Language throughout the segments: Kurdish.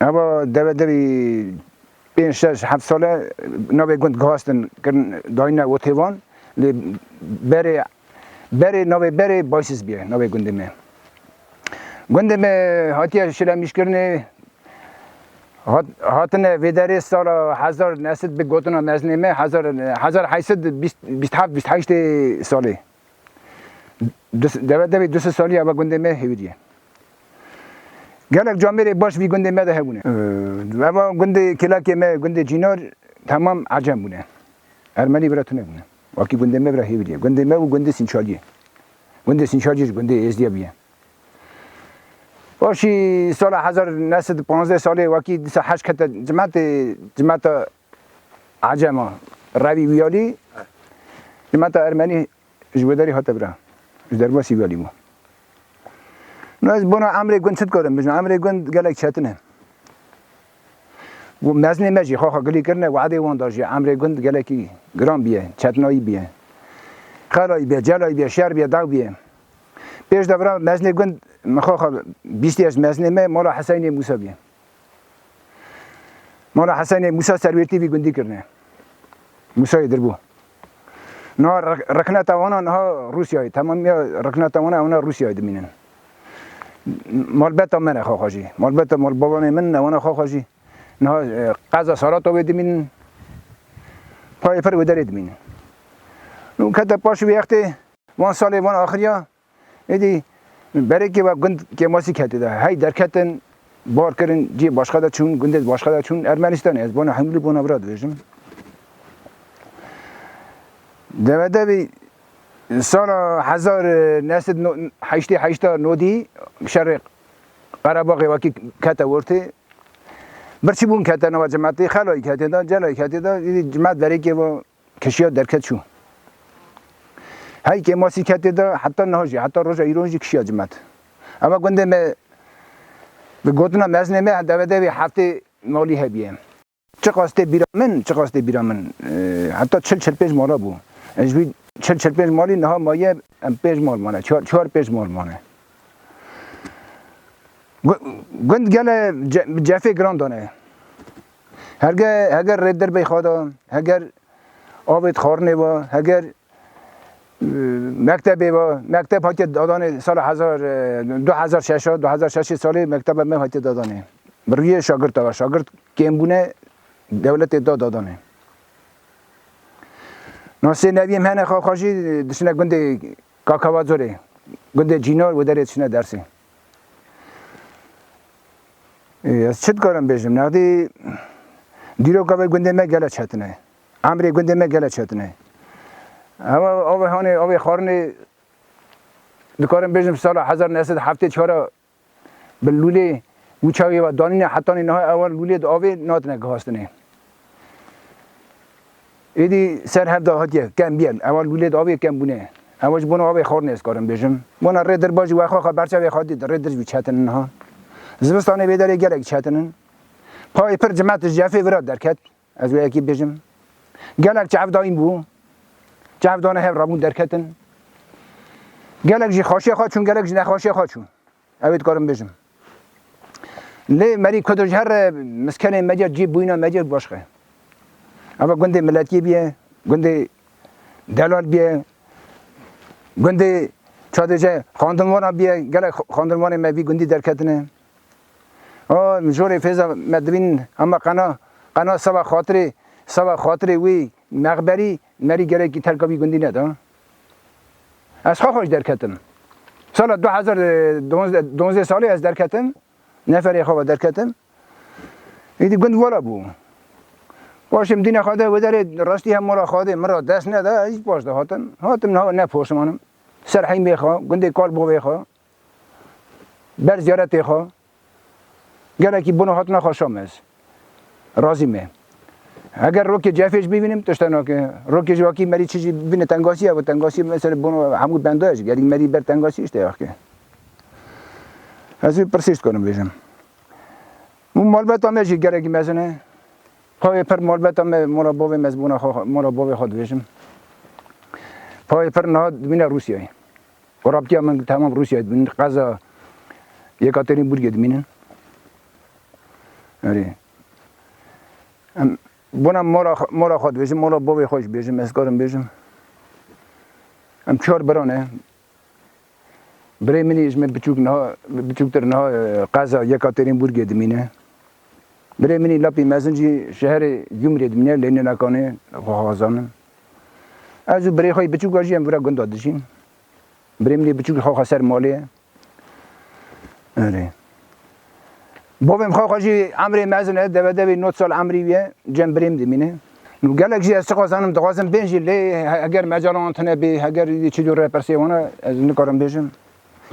Ava deve devî pênc şeş heft sale navê gund gihastin kirin dayîne otê wan lê berê berê navê berê Baysiz biye navê gundê me. Gundê me hatiye şilemîşkirinê hat hatine vê derê sala hezar nesid bi gotina mezinê me hezar hezar heysid bîst bîst heft bîst heştê salê. Deve devê du sê saliya ve gundê me hêwîriye. Gelek camêrê baş vî gundê me de hebûne. Eva gundê kêlakê me gundê Cînar temam ecem bûne. Ermenî bira tune bûne. Wakî gundê me bira hêwîriye. Gundê me û gundê Sînçaliyê. Gundê Sînçaliyê ji gundê Êzdiyê bûye. Paşî sala hezar new sed û panzdeh salê wakî disa heşt kete cimetê cimeta Acema, revî wiyalî li meta ermenî ji wê derî hate biran, ji derbasî wiyalî bû. No ez bona emrê gund çi dikarim bijim, emrê gund gelek çetin e. Û meznê me jî xaxa gilî kirine weadê wan da jî emrê gund gelekî giran bûye, çetinayî bûye. Xelayî bûye, celayî bûye, şer bûye, daw bûye. Pêş de bira meznê gund min xaxa bîstiye ji meznê me mala Heseynê Mûsa bûye. Mala Hesenê Mûsa Serwêtî vî gundî kirine. Mûsayê dirbû. Niha rikneta wana niha Rûsyayê, temamiya rikneta wana ewna Rûsyayê dimînin. Malbeta me ne xaxa jî. Malbeta malbabanê min ne wana xaxa jî. Niha e, qeza Saratowê dimînin. Payê pir wê derê dimînin. Nû kete paşî wê extê, van salê van axiriya Êdî berekê we gund Kêmasî ketê de. Hey derketin, bar kirin, cihê başka de çûn, gundê başka de çûn, Ermenîstanê. Ez bona Hemlî bona Vira dibêjim. Devedevî sala hezar neh sed heştê heşta nodî şerê Qerebaxê wekî kete ortê. Birçîbûn kete nava cimetê, xelayî ketê de, celayî ketê de. Êdî cimet berekê we Kişiya derket çû. Hey kê ma sî ketê de heta niha jî, heta roja îroj jî kişiya cimet. Eva gundê me bi gotina mezinê me devedê wê heftê malî hebîye. Çiqas tê bîra min, çiqas tê bîra min heta çil çil pênc mala bû. Ji vî çil çil pênc malî niha maye em pênc mal mane, çar çar pênc mal mane. Gund gele bi cefê giran dane. Herge heger rê derbey xada, heger avêt xarinê va, heger mektebê va, mekteb hatiye dadanê sala hezar du hezar şeş du hezar şeşê salê mekteba me hatiye dadanê. Bi rûyê şagirta va, şagirt kêmbûne dewletê da dadanê. Nasê neviyê me hene xaxajî dişine gundê Kakavazorê, gundê Cînar û derê dişine dersê. Ez çi dikarim bêjim nexdî dîroka vê gundê me gele çetin e. Emrê gundê me gele çetin e. Hema avê hanê avê xarinê dikarim bêjim sala hezar neh sed heftê çara bi lûlê û çawê ve danîne hetanî niha ewan lûlê di avê natine guhastinê. Êdî ser hev dahatiye kem bîye. Ewa li wîlêt avê kem bûne. Ewa ji bona avê xwarinê ez karim bêjim. Bona rê dirba jî wexwe xwe berçavê xwe dît rê dirj bû çetin in niha. Zivistanê vê derê gelek çetin in. Payê pir cima tij cefê vira derket. Ez wê yekî bêjim. Gelek çavdayîn bû. Çavdane hev rabûn derketin. Gelek jî xweşiya xwe çûn gelek jî nexweşiya xwe çûn. Ew ê dikarim bijim. Lê merî Kurdo ji her miskenên Mecir cî bûyîna Mecir başxe. Eva gundê miletiyê biye, gundê delal biye, gundê çadêje xandinvana biye, gelek xandinvanê me vî gundî derketine. O jorê fêza me dibînin hema qena, qena seba xatirê, seba xatirê wî mexberî merî gelekî terka vî gundî neda. Ez xwe xweş derketim. Sala du hezar û duwazdeh salê ez derketim, neferê xwe ve derketim. Îdî gund vola bû. Paşê min dîna xwe de wê derê rastî hem mala xwe de min re dest neda, ez jî paş de hatim. Hatim niha ne poşmanim. Ser heymê xwe, gundê Kalbovê xwe, Ber ziyaretê xwe gelekî bona hatina xwe şam ez razî me. Eger rokê cefê jî bivînim tişt hene ke rokê jî wakî merî çi jî bîne tengasî ev tengasî mesela bona hemû bendaya jî gelî merî ber tengasî işte ya ke. Ez vê pirsê jî dikarim bêjim. Û malbeta me jî gelekî mezin e. Payê pir malbeta me mala bavê me ez bona xwe mala bavê xwe dibêjim. Payê pir niha dimîne Rûsyayê. Rabitîya min temam Rûsyayê dibînin, qeza Yekaterinburgê dimînin. Erê. Em bona mala mala xwe dibêjim, mala bavê xwe jî bêjim, ez karim bêjim. Em çar bira ne. Birê min ê ji min biçûk niha biçûktir niha qeza Yekaterinburgê dimîne. Birê min ê lapî mezin jî şeherê Gümrê dimîne, Lêninakanê xwe xezanin. Ez û birê xwe yê biçûk ve jî em vira gunda dijîn. Birê min yê biçûk li xaxa ser malê ye. Erê. Bavê min xaxa jî emrê mezin e, deve devê not sal emrî wî ye, cem birê min dimîne. Nû gelek jî ez çi xwezanim dixwazim bên jî lê heger mecala wan tune bê, heger çi dû repersê wan e ez nikarim bêjim.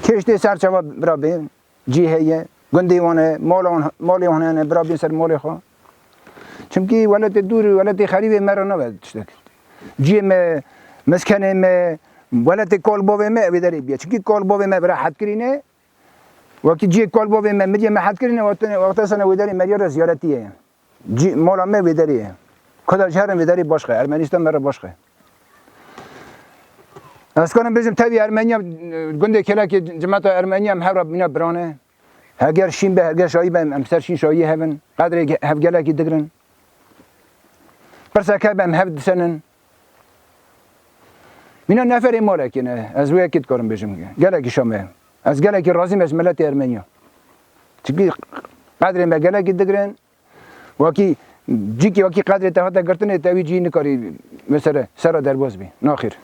Kêş tê serçava bira bê. Cî heye, gundê wan e, mala wan, malê wan hene, bira bên ser malê xwe. Çimkî weletê dûr, weletê xerîbê me re nabe tiştek. Ciyê me, miskenê me, weletê kal bavê me wê derê biye. Çimkî kal bavê me bira hed kirîne, wekî ciyê kal bavê me, miriyê me hed kirîne, wexta sene wê derê meriya re ziyaretîye ye. Cî mala me wê derê ye. Kurdar ji herin vê derê baş xe. Ermenîstan me re baş xe. Ez karim bêjim tevî Ermeniya gundê Kelekê cimeta Ermeniya em hev re bîna biran e. Heger şîn be, heger şayî be em em ser şîn şayî hev in. Qedrê hevgelekî digirin. Pirseke hebe em hev disenin. Mîna neferê malekê ne. Ez wê yekê dikarim bêjim. Gelekî Şamê ye. Ez gelekî razîm ez ji miletê Ermenî ya. Çikî qedrê me gelekî digirin. Wakî cîkî wakî qedrê te hate girtinê te wî cî nikarî mesele sera derbaz bî. Naxir.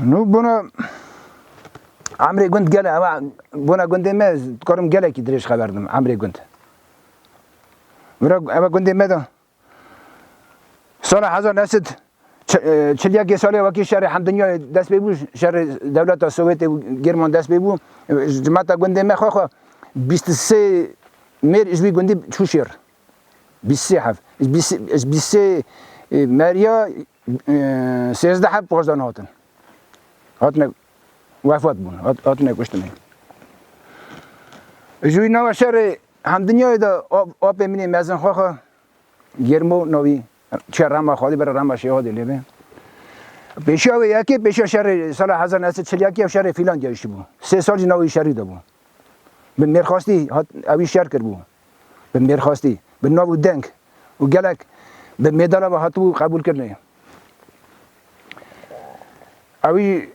Nû bona emrê gund gele ewa bona gundê me dikarim gelekî dirêj xeberdim emrê gund. Vira ewa gundê me de Sala hezar new sed çil yekê salê wekî şerê hemdinyayê dest pê bû, şerê dewleta Sowêtê û Gêrman dest pê bû, cimata gundê me xwe xwe bîst û sê mêr ji wî gundî çû şêr. Bîst sê hev. Ji bîst sê mêriya sêzdeh hev xweşdan hatin. Hatine wefat bûn, hatine kuştin. Ji wî nava şerê Hem dinyayê de apê min ê mezin xwe xwe germ û navî çiya Rama Xalî bira Rama Şêhadê lê be. Pêşiya wê yekê pêşiya şerê sala hezar neh sed çil yek ya şerê Fîlan gehiştibû. Sê sal jî navê şerî de bû. Bi mêrxastî hat ewî şer kiribû. Bi mêrxastî, bi nav û deng û gelek bi mêdala ve hatibû qebûlkirinê. Ewî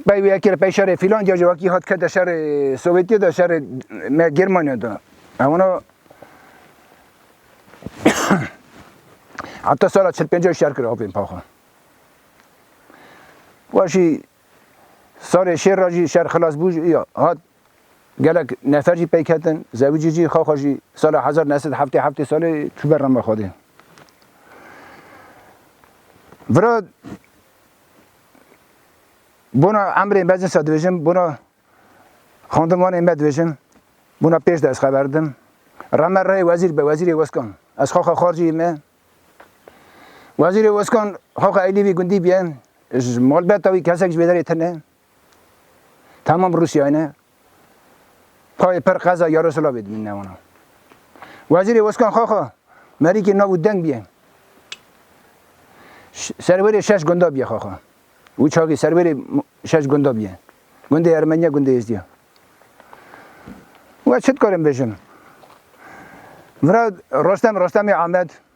Bey wê ekir pey şerê filan cajê wekî hat kete şerê Sovyetiyê de şerê me Germaniya de. Hewna heta sala çil pêncê şer kir avên paxwe. Weşî salê şêr ra jî şer xilas bû jî ya hat gelek nefer jî peyk hetin zewicî jî xaxa jî sala hezar nesid heftê heftê salê çûber rama xwedê. Vira Bona emrên meclisa dibêjim, bona xandimanên me dibêjim, bona pêş de ez xeber didim. Reme reyê wezîr be, wezîrê Weskan. Ez xaxa xarciyê me. Wezîrê Weskan xaxa Eylîvî gundî biye. Ji malbeta wî kesek ji wê derê tune. Tamam Rûsyayê ne payê per qeza Yaroslavê dimîn ne wana. Wezîrê Weskan Xaxa Merîkê nav û deng bîye. Serverê şeş gunda bîye Xaxa. Wî çavê serverê şeş gunda bîye. Gundê Ermeniya, gundê Êzdiya. Ve çi dikarim bêjim? Vira Rostem Rostemê Amed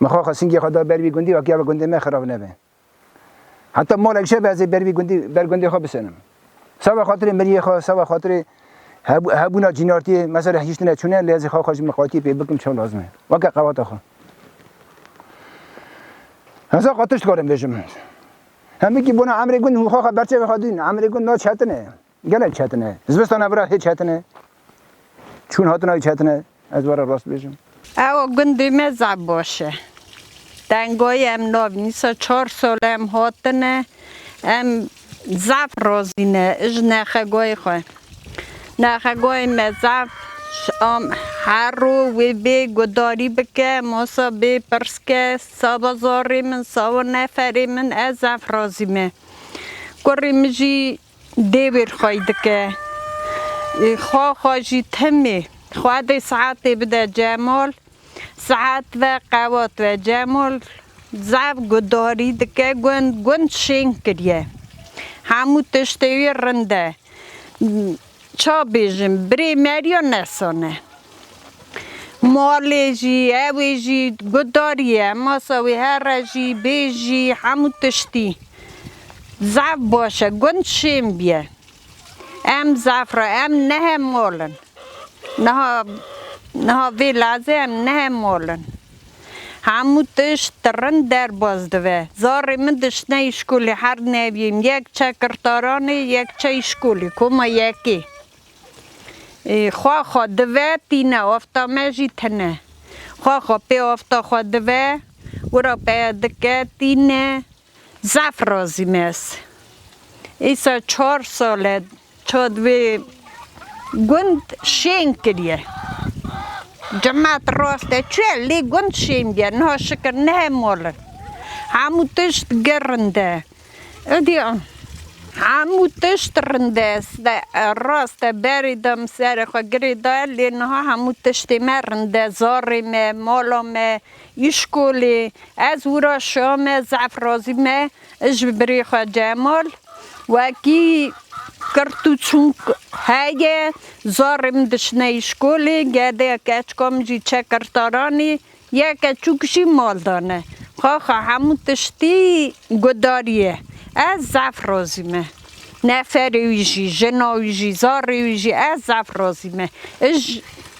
Min xwe xesingê xwe da ber vî gundî wekî ava gundê me xirav nebe. Heta malek şeve ez ê ber vî gundî ber gundê xwe bisenim. Sava xatirê miriyê xwe, sava xatirê hebûna cînartiyê me ser hiştine çûne lê ez ê xwe xwe ji miqatiyê pê bikim çawa lazim e. Weke qewata xwe. Heza qat tişt dikarim bêjim. Hemikî bona emrê gund hû xwe xwe berçavê xwe dîn. Emrê gund naçetine. Gelek çetin e. Zivistana vira hê çetin e. Çûn hatina wî çetin e. Ez were rast bêjim. Ew gundê me Zaboş e. Tengoyê em navnîsa çar sal em hatine. Em zaf razî ne ji nexegoyê xwe. Nexegoyê me zaf am her rû wê bê gudarî bike, masa bê pirs ke, saba zarê min, saba neferê min ez zaf razî me. Kurê min jî Dê wêr xwey dike. Xwa xwe jî timî. Xwa dê saetê bide Cemal. Saet ve qewat ve. Cemal zaf guhdarî dike. Gund gund şêng kiriye. Hemû tiştê wî rind e. Ça bêjim birê Merya nesan e. Malê jî, evê jî gudarî ye, masa wê herre jî, bê jî, hemû tiştî. Zaf baş e, gund şên bîye. Em zaf re, em nehe mal in. Niha, niha vê lezê em nehe mal in. Hemû tişt ti rind derbas dibe. Zarê min diştine îşkolê her neviyên yek çe kirtaranê yek çe îşkolê koma yekê xwaxa dibe tîne afta me jî tine xwaxa pê afta xwe dibe wira peye dike tîne Zaf razî me ez. Îsa çar sal e ça di vê gund şên kiriye. Cemat rast e çi ye lê gund şên bîye. Niha şikir ne he mal in. Hemû tişt gir rind e. Êdî an. Hemû tişt rind e. Rast e berê de min serê xwe girê daye lê niha hemû tiştê me rind e. Zarê me, mala me, Îşkolê, ez wira şame zaf razî me ji birê xwe Cemal, wekî kirt û çûk heye, zarê min diçine îşkolê, gedek keçika min jî çe kirtaranê, yek keçûk jî mal de ne. Xaxa hemû tiştî gudarî ye. Ez zaf razî me. Neferê wî jî, jina wî jî, zarê wî jî ez zaf razî me. Ij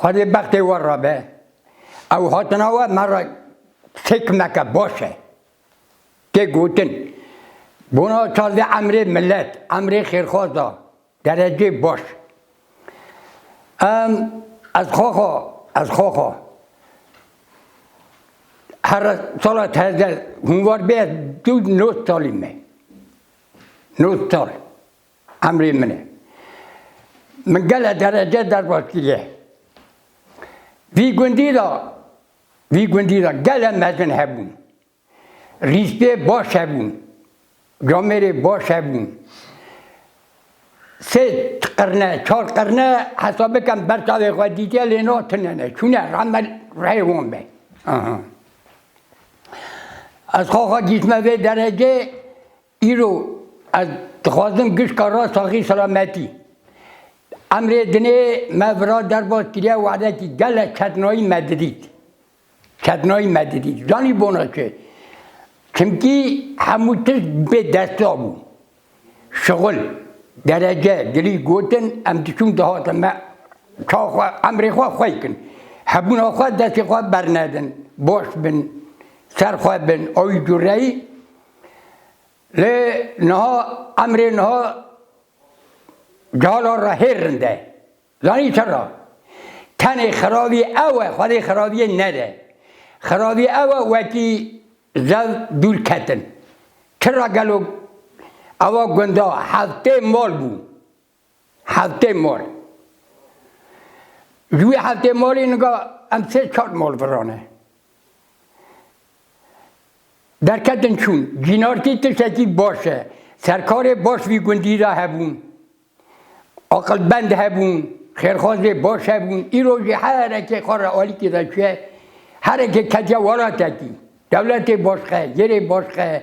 Xwedê bextê we re be. Ew hatina we me re fêkmeke baş e. Tê gotin, bona çardê emrê milet, emrê xêrxwaz da, derecê baş. Em ez xwaxa, ez xwaxa her sala tezde hûnvar bê ez dû not salî me. Not sal. Emrê min e. Min gele derece derbas kiriye. Vî gundî de vî gundî de gele mezin hebûn. Rîspê baş hebûn. Camêrê baş hebûn. Sê qirne, çar qirne hesab bikem berçavê xwe dîtiye lê no tunene. Çûne rame reyê wan be. Ez xaxa gîtme vê derecê Îro ez dixwazim gişka ra saxî selametî. Emrê dinê me vira derbas kiriye wexdekî gelek ketnayî me didît. Ketnayî me didît. Zanî bona çi? Çimkî hemû tişt bê desta bû. Şixul, derece, dilî gotin em diçûn dihatin me ça xwe emrê xwe xwe kin. Hebûna xwe destê xwe bernedin. Baş bin, ser xwe bin. Awî cureyî Lê niha emrê niha calan re hêr rind e. Zanî çira? Tenê xirabî ew e Xwedê xirabîyê nede. Xirabî ew e wekî zev dûr ketin. Çira gelo ewa gunda heftê mal bû. Hevtê mol. Ji wî hevtê molî niga em sê çar mol virane. Derketin çûn. Cînarkî tiştekî baş e. Serkarê baş vî gundî de hebûn. Aqilbend hebûn, xêrxwazê baş hebûn. Îro jî herekê xwe re alîkî de çûye. Herekê ketiye welatekî. Dewletê baş xe, yêrê baş xe.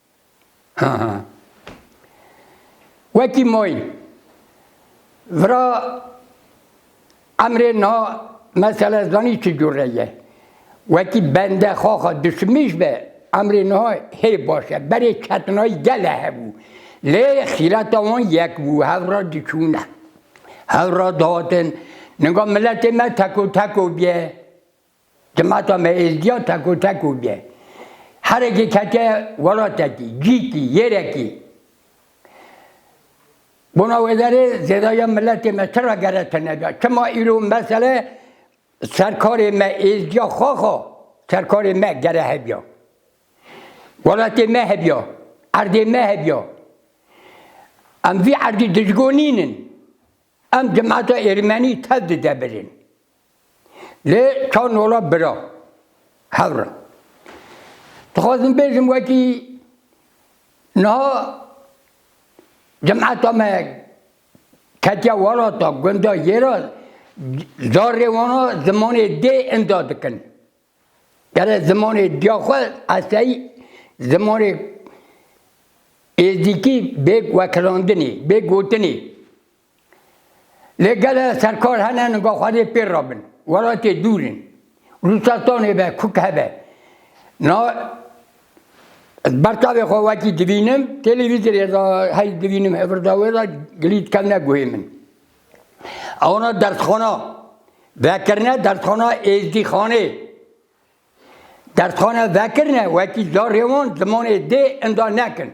Wekî moy vira emrê na mesela ez zanî çi cûr re ye. Wekî bende xaxa dişimîş be emrê na hê baş e. Berê ketinayî gele hebû. Lê xîreta wan yek bû hewra diçûne. Hewra dihatin. Ninga miletê me teko teko bîye. Cemata me êzdiya tekotek û bê herekê ketiye welatekî, cîkî, yêrekî. Bona wê derê zêdaya miletê me çira gere tine da? Çima îro mesele serkarê me êzdiya xaxa serkarê me gere hebiya? Welatê me hebiya, erdê me hebiya. Em vî erdî dijgo nînin. Em cemata êrmenî tev dide birin. Lê ka nola bira, hewra. Dixwazim bêjim wekî niha cemeta me ketiya welata gunda yê re zarê wana zimanê dê inda dikin. Gere zimanê diya xwe eseyî zimanê êzdîkî bê wekilandinê, bê gotinê. Lê gele serkar hene niga Xwedê pê re bin. Welatê dûr in. Rûsastanê be, kuk hebe. Na ez bertavê xwe wekî dibînim, têlêvîzorê de hey dibînim hevir de wê de gilî dikevne guhê min. Ewana dersxana vekirine, dersxana Êzdîxanê. Dersxana vekirine wekî zarê wan zimanê dê inda nekin.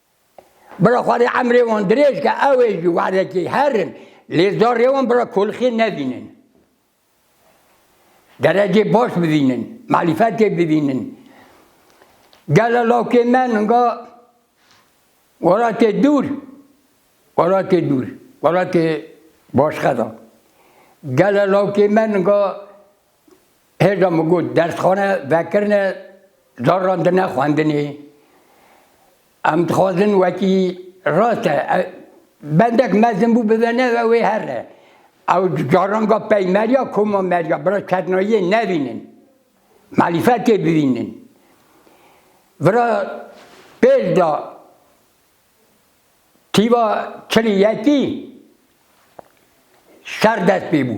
Bira Xwedê emrê wan dirêj ke ew ê ji werdekê herin lê zarê wan bira kolxê nevînin. Derecê baş bivînin, marîfetê bivînin. Gele lawkê me ninga welatê dûr, welatê dûr, welatê başxeda. Gele lawkê me ninga Hêja min got dersxane vekirine caran di ne xwendinê. Em dixwazin wekî rast e bendek mezin bû bibe ne ve wê her re. Ew caranga peymeriya koma meriya bira çeknayiyê nevînin. Malîfetê bivînin. Bira pêl da tîva çilî yekî şer dest pê bû.